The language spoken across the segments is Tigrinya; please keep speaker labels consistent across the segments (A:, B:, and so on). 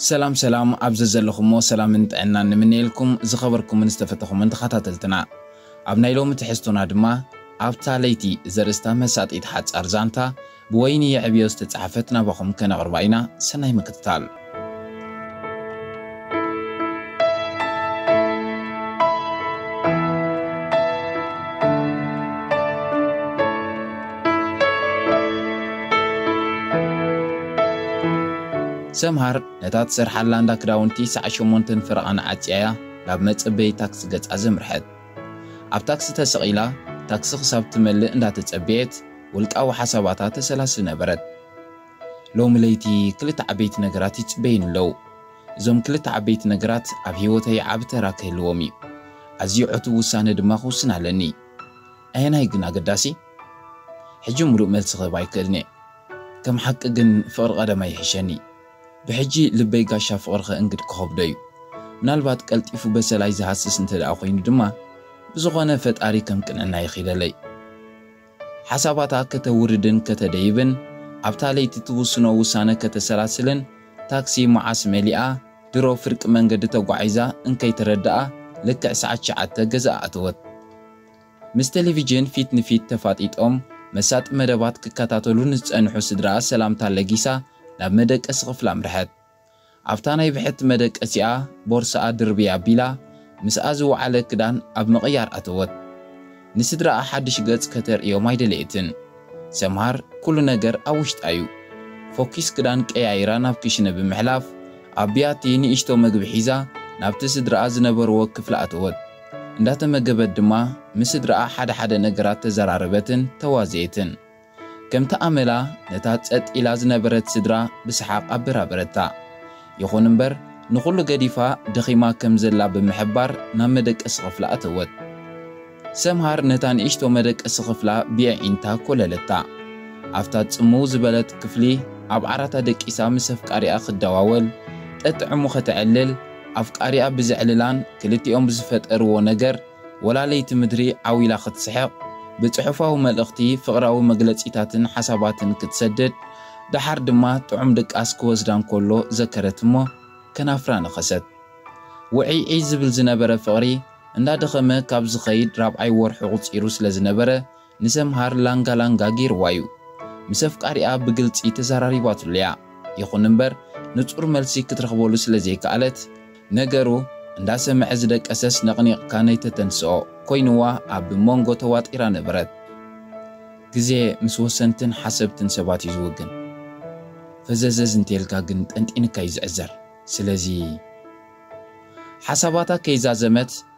A: ሰላም ሰላም ኣብ ዘዘለኹሞ ሰላምን ጥዕናን ንምነየልኩም ዝኸበርኩምን ዝተፈተኹምን ተኸታተልትና ኣብ ናይ ሎሚ ትሕዝቶና ድማ ኣብታ ለይቲ ዘርእስታ መሳጢት ሓጻር ዛንታ ብወይኒ የዕብዮ ዝተጻሕፈት ናባኹም ከነቕርባ ኢና ሰናይ ምክትታል። ሰምሃር ነታ ትሰርሓላ እንዳ ክዳውንቲ ሰዓት ሸሞንተን ፈረቓ ንዓጽያያ ናብ መጸበዪ ታክሲ ገጻ ዘምርሐት። ኣብ ታክሲ ተሰቒላ ታክሲ ክሳብ ትመልእ እንዳተጸበየት፣ ውልቃዊ ሓሳባታ ተሰላስል ነበረት። ሎሚ ለይቲ ክልተ ዓበይቲ ነገራት ይጽበዩኒ ኣለዉ። እዞም ክልተ ዓበይቲ ነገራት ኣብ ህይወተይ ዓቢ ተራ ክህልዎም እዩ። ኣዝዩ ዕቱብ ውሳነ ድማ ክውስን ኣለኒ። ኣየናይ ግን ኣገዳሲ? ሕጂ ምሉእ መልሲ ክህብ ኣይክእልን'የ። ከም ሓቂ ግን ፍቕሪ ቀደማ ይሕሸኒ። ብሕጂ ልበይ ጋሻ ፍቕሪ ከእንግድ ክኸብዶ እዩ። ምናልባት ቀልጢፉ በሰላይ ዝሃስስ እንተደኣ ኮይኑ ድማ ብዝኾነ ፈጣሪ ከም ቅንዕናይ ይኺለለይ። ሓሳባታ ከተውርድን ከተደይብን፣ ኣብታ ለይቲ ትውስኖ ውሳነ ከተሰላስልን፣ ታክሲ መዓስ መሊኣ፣ ድሮ ፍርቂ መንገዲ ተጓዒዛ እንከይተረድኣ ልክዕ ሰዓት ትሽዓተ ገዝኣ ኣተወት። ምስ ተለቪጅን ፊት ንፊት ተፋጢጦም መሳጢ መደባት ክከታተሉ ንዝጸንሑ ስድራኣ ሰላምታ ለጊሳ ናብ መደቀሲ ክፍላ ኣምርሐት። ኣብታ ናይ ብሕቲ መደቀሲኣ ቦርስኣ ድርብይ ኣቢላ ምስኣ ዝወዓለ ክዳን ኣብ ምቕያር ኣተወት። ንስድራኣ ሓድሽ ገጽ ከተርእዮም ኣይደለየትን። ሰምሃር ኩሉ ነገር ኣብ ውሽጣ'ዩ። ፎኪስ ክዳን ቀያይራ ናብ ክሽነ ብምሕላፍ ኣብ ብያቲ ንእሽቶ መግቢ ሒዛ ናብቲ ስድራኣ ዝነበርዎ ክፍሊ ኣተወት። እንዳተመገበት ድማ ምስ ስድራኣ ሓደ ሓደ ነገራት ተዘራረበትን ተዋዘየትን። ከምቲ ኣመላ ነታ ጸጥ ኢላ ዝነበረት ስድራ ብሰሓቕ ኣበራበረታ። ይኹን እምበር ንኹሉ ገዲፋ ደኺማ ከም ዘላ ብምሕባር ናብ መደቀሲ ክፍላ ኣተወት። ሰምሃር ነታ ንእሽቶ መደቀሲ ክፍላ ብየዒንታ ኮለለታ። ኣብታ ጽምው ዝበለት ክፍሊ ኣብ ዓራታ ደቂሳ ምስ ኣፍቃሪኣ ክደዋወል፣ ጠጥዕሙ ከተዕልል፣ ኣፍቃሪኣ ብዘዕልላን ክልቲኦም ብዝፈጠርዎ ነገር፣ ወላለይቲ ምድሪ ዓው ኢላ ክትስሕቕ፣ ብጽሑፋዊ መልእኽቲ ፍቕራዊ መግለጺታትን ሓሳባትን ክትሰድድ፣ ደሓር ድማ ጥዑም ድቃስ ክወስዳ እንከሎ ዘከረት እሞ ከናፍራ ነኸሰት። ውዕይዕይ ዝብል ዝነበረ ፍቕሪ፣ እንዳደኸመ ካብ ዝኸይድ ራብዓይ ወርሑ ቁጺሩ ስለ ዝነበረ፣ ንሰምሃር ላንጋ ላንጋ ገይርዋ'ዩ። ምስ ኣፍቃሪኣ ብግልጺ ተዘራሪባትሉ'ያ። ይኹን'ምበር ንጹር መልሲ ክትረኽበሉ ስለ ዘይከኣለት፣ ነገሩ እንዳሰምዐ ዝደቀሰስ ነቕኒቕካ ነይተተንስኦ ኮይኑዋ ኣብ ሞንጎ ተዋጢራ ነበረት። ግዜ ምስ ወሰንትን ሓሰብትን ሰባት'ዩ ዝውግን። ፈዘዘዝ እንተኢልካ ግን ጠንጢንካ'ዩ ዝዕዘር። ስለዚ። ሓሳባታ ከይዛዘመት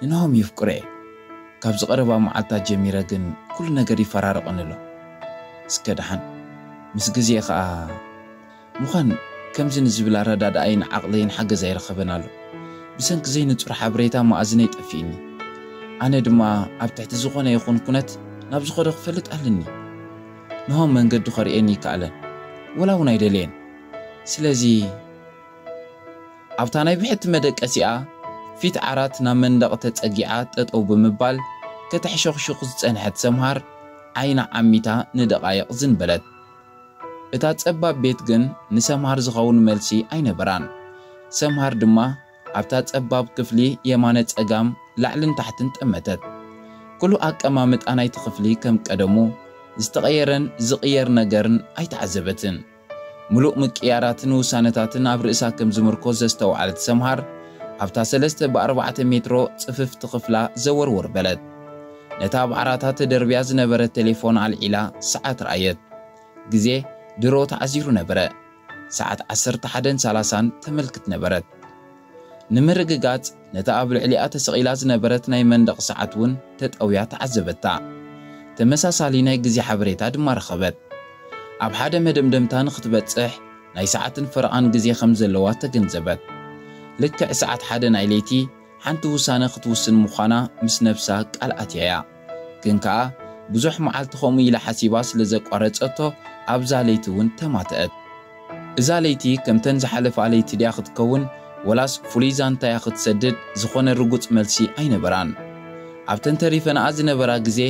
A: ንናሆም የፍቅሮ እየ ካብዚ ቀረባ መዓልታት ጀሚረ ግን ኩሉ ነገር ይፈራረቀኒ ኣሎ እስከ ደሓን ምስ ግዜ ከኣ ምኳን ከምዚ ንዝብል ኣረዳድኣይን ዓቅለይን ሓገዝ ኣይረከበን ኣሎ ብሰንኪ ዘይንጹር ሓበሬታ መኣዝነይ ጠፊእኒ ኣነ ድማ ኣብ ትሕቲ ዝኮነ ይኩን ኩነት ናብ ዝኮዶ ክፈልጥ ኣልኒ ንሆም መንገዱ ከርእየኒ ይከኣለን ወላ ውን ኣይደለየን ስለዚ ኣብታ ናይ ብሕቲ መደቀሲኣ ፊት ዓራት ናብ መንደቕ ተጸጊዓ ጠጠው ብምባል ከተሕሸኹሹኽ ዝጸንሐት ሰምሃር ዓይና ዓሚታ ንደቓይቕ ዝን በለት። እታ ጸባብ ቤት ግን ንሰምሃር ዝኸውን መልሲ ኣይነበራን። ሰምሃር ድማ ኣብታ ጸባብ ክፍሊ የማነ ጸጋም ላዕልን ታሕትን ጠመተት። ኩሉ ኣቀማምጣ ናይቲ ክፍሊ ከም ቀደሙ ዝተቐየረን ዝቕየር ነገርን ኣይተዓዘበትን። ምሉእ ምቅይያራትን ውሳነታትን ኣብ ርእሳ ከም ዝምርኮስ ዘስተውዓለት ሰምሃር፣ ኣብታ ሰለስተ ብኣርባዕተ ሜትሮ ጽፍፍቲ ክፍላ ዘወርወር በለት። ነታ ኣብ ዓራታ ተደርብያ ዝነበረት ተሌፎን ኣልዒላ ሰዓት ረኣየት። ግዜ ድሮ ተዓዚሩ ነበረ። ሰዓት ዓሰርተ ሓደን ሳላሳን ተመልክት ነበረት። ንምርግጋጽ ነታ ኣብ ልዕሊኣ ተሰቒላ ዝነበረት ናይ መንደቕ ሰዓት እውን ተጠውያ ተዓዘበታ። ተመሳሳሊ ናይ ግዜ ሓበሬታ ድማ ረኸበት። ኣብ ሓደ መደምደምታ ንኽትበጽሕ ናይ ሰዓትን ፈረቓን ግዜ ከም ዘለዋ ተገንዘበት። ልክዕ ሰዓት ሓደ ናይ ለይቲ ሓንቲ ውሳነ ክትውስን ምዃና ምስ ነብሳ ቃል ኣትያ እያ። ግን ከኣ ብዙሕ መዓልቲ ከምኡ ኢላ ሓሲባ ስለ ዘቋረጸቶ ኣብዛ ለይቲ እውን ተማትኣት። እዛ ለይቲ ከምተን ዝሓለፋ ለይቲ ድያ ክትከውን ወላስ ፍሉይ ዛንታ እያ ክትሰድድ ዝኾነ ርጉጽ መልሲ ኣይነበራን። ኣብተን ተሪፈናኣ ዝነበራ ግዜ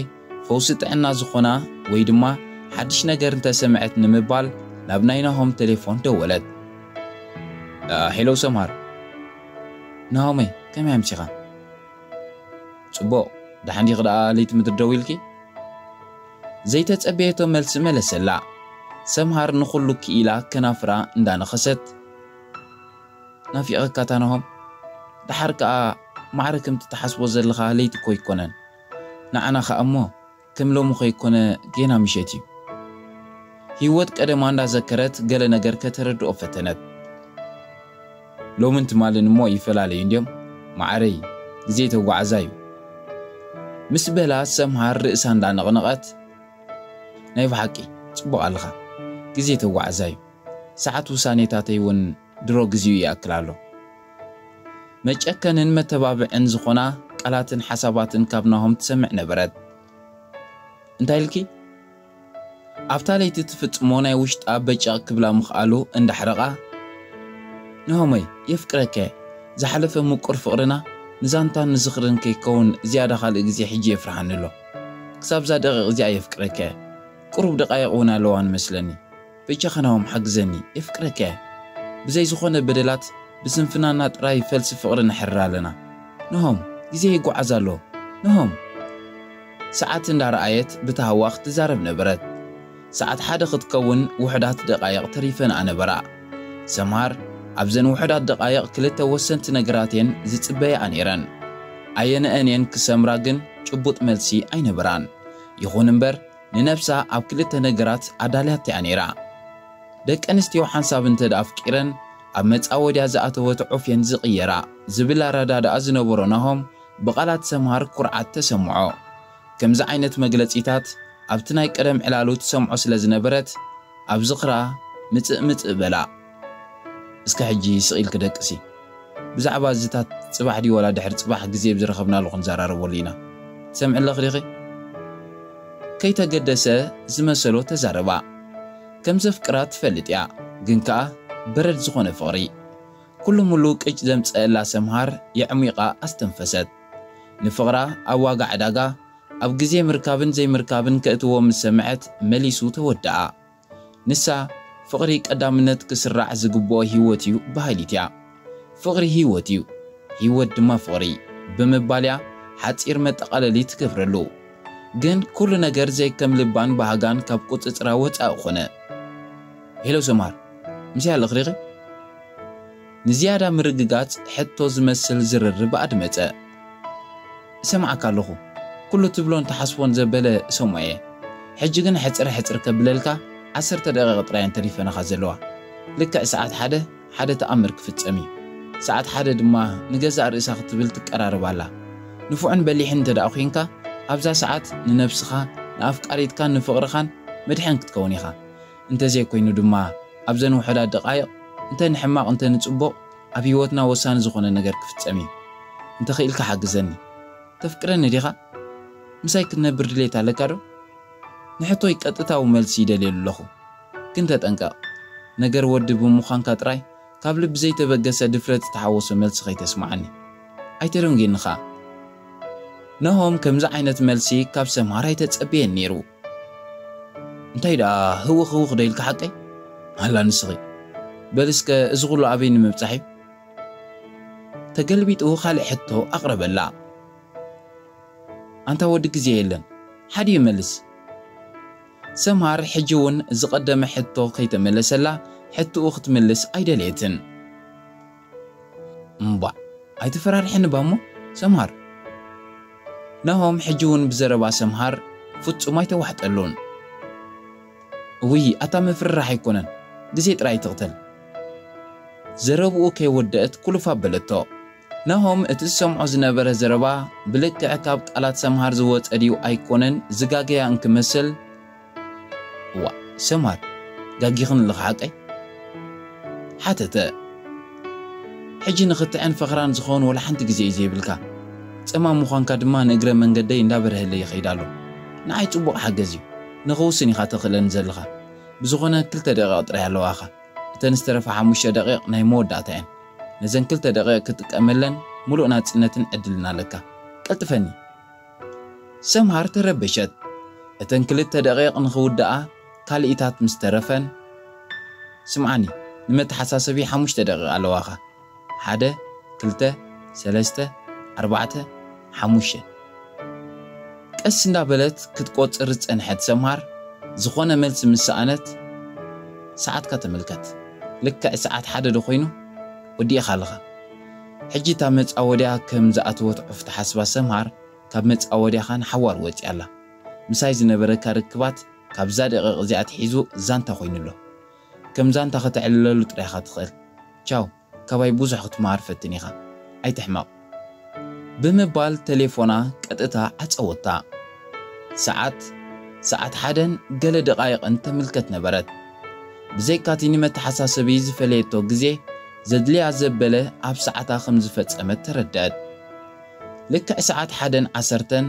A: ፈውሲ ጥዕና ዝኾና ወይ ድማ ሓድሽ ነገር እንተ ሰምዐት ንምባል ናብ ናይ ናሆም ተሌፎን ደወለት። ሄሎ ሰምሃር። ናሆመይ ከመይ ኣምሲኻ? ጽቡቕ፣ ደሓን ዲኺ ደኣ ለይቲ ምድሪ ደው ኢልኪ? ዘይተጸበየቶ መልሲ መለሰላ። ሰምሃር ንኹሉ ክኢላ ከናፍራ እንዳ ነኸሰት። ናፊቐካታ ናሆም? ደሓር ከኣ ማዕረ ከምቲ ትሓስቦ ዘለኻ ለይቲ እኮ ኣይኮነን። ንዓና ከኣ እሞ ከም ሎሚ ከይኮነ ጌና ምሸት እዩ። ሂወት ቀደማ እንዳዘከረት ገለ ነገር ከተረድኦ ፈተነት። ሎምን ትማልን እሞ ይፈላለዩ እንድዮም ማዓረይ ግዜ ተጓዓዛይ እዩ። ምስ በላ ሰምሃር ርእሳ እንዳነቕነቐት ናይ ብሓቂ ጽቡቕ ኣለኻ ግዜ ተጓዓዛይ እዩ ሰዓት ውሳኔታተይ ውን ድሮ ግዚኡ ይኣክል ኣሎ። መጨከንን መተባብዕን ዝኾና ቃላትን ሓሳባትን ካብ ናሆም ትሰምዕ ነበረት። እንታይ ኢልኪ? ኣብታ ለይቲ ትፍጽሞ ናይ ውሽጣ በጨቕ ክብላ ምኽኣሉ እንዳሕረቓ፣ ናሆመይ የፍቅረኪ'የ፣ ዝሓለፈ ምቁር ፍቕርና ንዛንታን ንዝኽርን ከይከውን ዝያዳ ካልእ ግዜ ሕጂ የፍርሓኒ'ሎ። ክሳብ'ዛ ደቒቕ እዚኣ የፍቅረኪ'የ። ቁሩብ ደቓይቕ እውን ኣለዋኒ መስለኒ። በጃኻ ናሆም ሓግዘኒ የፍቅረካ እየ ብዘይ ዝኾነ በደላት ብስንፍናና ጥራይ ፈልሲ ፍቅሪ ነሕርር ኣለና ናሆም ግዜ ይጓዓዝ ኣሎ ናሆም ሰዓት እንዳ ረኣየት ብታህዋኽ ትዛረብ ነበረት ሰዓት ሓደ ክትከውን ውሑዳት ደቃይቅ ተሪፈንኣ ነበራ ሰምሃር ኣብዘን ውሑዳት ደቃይቅ ክልተ ወሰንቲ ነገራት እየን ዝጽበያኣ ኔረን ኣየነኣን እየን ክሰምራ ግን ጭቡጥ መልሲ ኣይነበራን ይኹን እምበር ንነብሳ ኣብ ክልተ ነገራት ኣዳልያቶ እያ ነይራ። ደቂ ኣንስትዮ ሓንሳብ እንተ ኣፍቂረን ኣብ መጻወድያ ዝኣተወት ዑፍ እየን ዝቕየራ ዝብል ኣረዳድኣ ዝነበሮ ናሆም ብቓላት ሰምሃር ኩርዓት ተሰምዖ። ከምዚ ዓይነት መግለጺታት ኣብቲ ናይ ቀደም ዕላሉ ትሰምዖ ስለ ዝነበረት ኣብ ዝኽራ ምጽእ ምጽእ በላ። እስከ ሕጂ ስቅ ኢልኪ ደቅሲ ብዛዕባ እዚታት ጽባሕ ድዩ ዋላ ድሕሪ ጽባሕ ግዜ ብ ዝረኸብናሉ ክንዛራረበሉ ኢና ትሰምዒ ኣለኺ ዲኺ ከይተገደሰ ዝመሰሎ ተዛረባ ከም ዘፍቅራ ትፈልጥ እያ ግን ከኣ በረድ ዝኾነ ፍቅሪ ኩሉ ሙሉ ቅጭ ዘምጸእላ ሰምሃር የዕሚቃ ኣስተንፈሰት ንፍቅራ ኣብ ዋጋ ዕዳጋ ኣብ ግዜ ምርካብን ዘይምርካብን ከእትዎ ምስ ሰምዐት መሊሱ ተወደኣ። ንሳ፣ ፍቕሪ ቀዳምነት ክስራዕ ዝግብኦ ህይወት'ዩ በሃሊት'ያ። ፍቕሪ ህይወት'ዩ፣ ህይወት ድማ ፍቕሪ ብምባል'ያ ሓጺር መጠቓለሊ ትገብረሉ። ግን ኩሉ ነገር ዘይከም ልባን ባህጋን ካብ ቁጽጽራ ወጻኢ ኮነ። ሄሎ ሰምሃር፣ ምስያ ኣለኽዲኺ? ንዝያዳ ምርግጋጽ ሕቶ ዝመስል ዝርርብ ኣድመጸ። እሰምዓካ ኣለኹ። ኩሉ ትብሎን ትሓስቦን ዘበለ እሰምዖ'የ። ሕጂ ግን ሕጽር ሕጽር ከብለልካ ዓሰርተ ደቒቕ ጥራይ'የን ተሪፈናኻ ዘለዋ። ልክዕ ሰዓት ሓደ፣ ሓደ ተኣምር ክፍጸም'ዩ። ሰዓት ሓደ ድማ ንገዛእ ርእሳ ክትብል ትቀራረብ ኣላ። ንፉዕን በሊሕን እንተደኣ ኲይንካ፣ ኣብዛ ሰዓት ንነብስኻ፣ ንኣፍቃሪትካን ንፍቕርኻን መድሕን ክትከውን ኢኻ። እንተዘይኮይኑ ድማ ኣብዘን ውሑዳት ደቓይቕ እንተ ንሕማቕ እንተ ንጽቡቕ ኣብ ህይወትና ወሳኒ ዝኾነ ነገር ክፍጸም እዩ። እንተኽኢልካ ሓግዘኒ። ተፍቅረኒ ዲኻ? ምሳይ ክትነብር ድሌት ኣለካዶ? ንሕቶይ ቀጥታዊ መልሲ ይደልየሉ ኣለኹ። ግን ተጠንቀቕ። ነገር ወዲ ብምዃንካ ጥራይ ካብ ልቢ ዘይተበገሰ ድፍረት ዝተሓወሶ መልሲ ከይተስምዓኒ። ኣይተደንጒኒ ከኣ። ናሆም ከምዚ ዓይነት መልሲ ካብ ሰምሃር ኣይተጸበየን ነይሩ። እንታይ ደኣ ህውኽ ህውኽ ዶ ኢልኪ ሓቀይ? ኣላ ንስኺ በሊ እስከ እዚ ኹሉ ኣበይ ንምብጻሕ እዩ? ተገልቢጡ ካልእ ሕቶ ኣቕረበላ። ኣንታ ወዲ ግዜ የለን ሓዲኡ መልስ። ሰምሃር ሕጂ እውን ዝቐደመ ሕቶ ከይተመለሰላ ሕትኡ ክትምልስ ኣይደለየትን። እምቧእ ኣይተፈራርሕን እባ እሞ ሰምሃር። ናሆም ሕጂ ውን ብዘረባ ሰምሃር ፍጹም ኣይተዋሕጠሉን። እውይ ኣታ ምፍርራሕ ኣይኮነን ግዜ ጥራይ ትቕተል። ዘረብኡ ከይወደእት ኩልፍ ኣበለቶ። ናሆም እቲ ዝሰምዖ ዝነበረ ዘረባ ብልክዕ ካብ ቃላት ሰምሃር ዝወጸ ድዩ ኣይኮነን ዝጋገያ እንክመስል፣ እዋእ ሰምሃር ጋጊኽን ኣለኺ ሓቀይ? ሓተተ። ሕጂ ንኽትዕን ፈኽራን ዝኸውን ወላ ሓንቲ ግዜ እዩ ዘይብልካ። ጸማም ምዃንካ ድማ ንእግረ መንገደይ እንዳበረሀለይ ይኸይድ ኣሎ። ንዓይ ጽቡቕ ሓገዝ እዩ። ንኽውስን ኢኻ ተኽእለኒ ዘለኻ። ብዝኾነ ክልተ ደቒቕ ጥራይ ኣለዋኻ። እተን ዝተረፋ ሓሙሽተ ደቒቕ ናይ መወዳእታ እየን። ነዘን ክልተ ደቒቕ ክትጥቀመለን ምሉእ ናጽነትን ዕድልን ኣለካ። ቀልጥፈኒ! ሰምሃር ተረበሸት። እተን ክልተ ደቒቕ ንኽውድኣ ካልኢታት ምስ ተረፈን፣ ስምዓኒ፣ ንመተሓሳሰቢ ሓሙሽተ ደቒቕ ኣለዋኻ፣ ሓደ፣ ክልተ፣ ሰለስተ፣ ኣርባዕተ፣ ሓሙሽተ። ቀስ እንዳበለት ክትቆጽር ዝጸንሐት ሰምሃር፣ ዝኾነ መልሲ ምስ ሰኣነት፣ ሰዓትካ ተመልከት፣ ልክዕ ሰዓት ሓደ ዶ ኮይኑ? ወዲእኻ ኣለኻ። ሕጂ እታ መጻወድያ ከም ዝኣተወት ዑፍ ትሓስባ ሰምሃር ካብ መጻወድያኻ ንሓዋሩ ወጺኣ ኣላ። ምሳይ ዝነበረካ ርክባት ካብዛ ደቒቕ እዚኣ ኣትሒዙ ዛንታ ኮይኑ ኣሎ። ከም ዛንታ ከተዕልለሉ ጥራይ ኢኻ ትኽእል። ቻው ካባይ ብዙሕ ክትመሃር ፈትን ኢኻ። ኣይትሕመቕ። ብምባል ተሌፎና ቀጥታ ዓጸወታ። ሰዓት ሰዓት ሓደን ገለ ደቓይቕን ተምልከት ነበረት። ብዘይካ'ቲ ንመተሓሳሰቢ ዝፈለየቶ ግዜ ዘድልያ ዘበለ ኣብ ሰዓታ ከም ዝፈጸመት ተረድኣት። ልክዕ ሰዓት ሓደን ዓሰርተን፣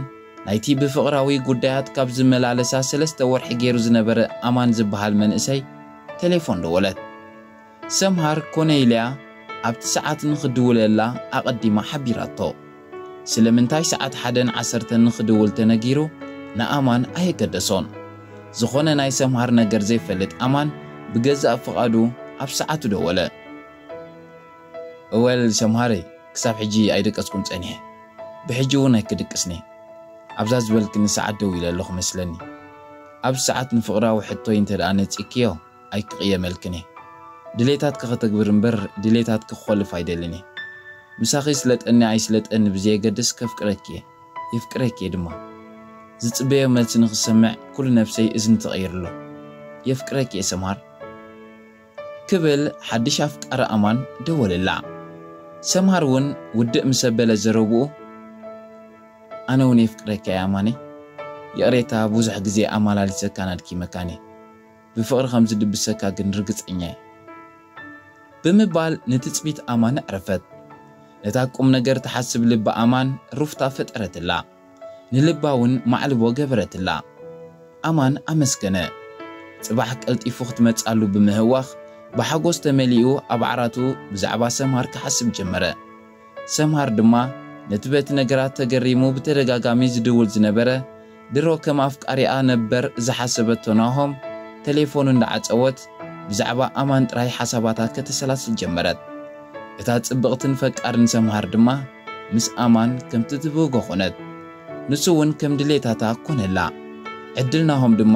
A: ናይቲ ብፍቕራዊ ጉዳያት ካብ ዝመላለሳ ሰለስተ ወርሒ ገይሩ ዝነበረ ኣማን ዝበሃል መንእሰይ ተሌፎን ደወለት። ሰምሃር ኮነይልያ ኣብቲ ሰዓት ንኽድውለላ ኣቐዲማ ሓቢራቶ። ስለምንታይ ሰዓት ሓደን ዓሰርተን ንኽድውል ተነጊሩ ንኣማን ኣየገደሶን። ዝኾነ ናይ ሰምሃር ነገር ዘይፈልጥ ኣማን ብገዛእ ፍቓዱ ኣብ ሰዓቱ ደወለ። እወል ሰምሃረይ ክሳብ ሕጂ ኣይደቀስኩን ጸኒሐ። ብሕጂ እውን ኣይክድቅስን'የ። ኣብዛ ዝበልክኒ ሰዓት ደዊለ ኣለኹ መስለኒ። ኣብዚ ሰዓት ንፍቕራዊ ሕቶይ እንተድኣ ነጺግክዮ፣ ኣይክቅየመልክን እየ ድሌታትኪ ከተግብር እምበር ድሌታትኪ ክኾልፍ ኣይደልን እየ ምሳኺ ይስለጠኒ ኣይስለጠኒ ብዘየገድስ ከፍቅረኪ እየ የፍቅረኪ እየ ድማ ዝጽበዮ መልሲ ንኽሰምዕ ኩሉ ነብሰይ እዝኒ ተቀይሩ ኣሎ የፍቅረኪ እየ ሰምሃር ክብል ሓድሽ ኣፍቃሪ ኣማን ደወለላ ሰምሃር ውን ውድእ ምስ ኣበለ ዘረብኡ ኣነ ውን የፍቅረካ እየ ኣማነይ ይቅሬታ ብዙሕ ግዜ ኣማላሊሰካን ኣድኪመካን እየ ብፍቕሪ ከም ዝድብሰካ ግን ርግጸኛ እየ። ብምባል ንትጽቢት ኣማን ኣዕረፈት። ነታ ቁም ነገር ትሓስብ ልቢ ኣማን ሩፍታ ፈጠረትላ። ንልባ እውን ማዕልቦ ገበረትላ። ኣማን ኣመስገነ። ጽባሕ ቀልጢፉ ክትመጽኣሉ ብምህዋኽ ብሓጎስ ተመሊኡ ኣብ ዓራቱ ብዛዕባ ሰምሃር ክሓስብ ጀመረ። ሰምሃር ድማ ነቲ በቲ ነገራት ተገሪሙ ብተደጋጋሚ ዝድውል ዝነበረ ድሮ ከም ኣፍቃሪኣ ነበር ዝሓሰበቶ ናሆም ተሌፎኑ እንዳዓጸወት ብዛዕባ ኣማን ጥራይ ሓሳባታ ከተሰላስል ጀመረት። እታ ጽብቕትን ፈቃርን ሰምሃር ድማ ምስ ኣማን ከምቲ ትብህጎ ኮነት። ንሱ ውን ከም ድሌታታ ኮነላ። ዕድል ናሆም ድማ።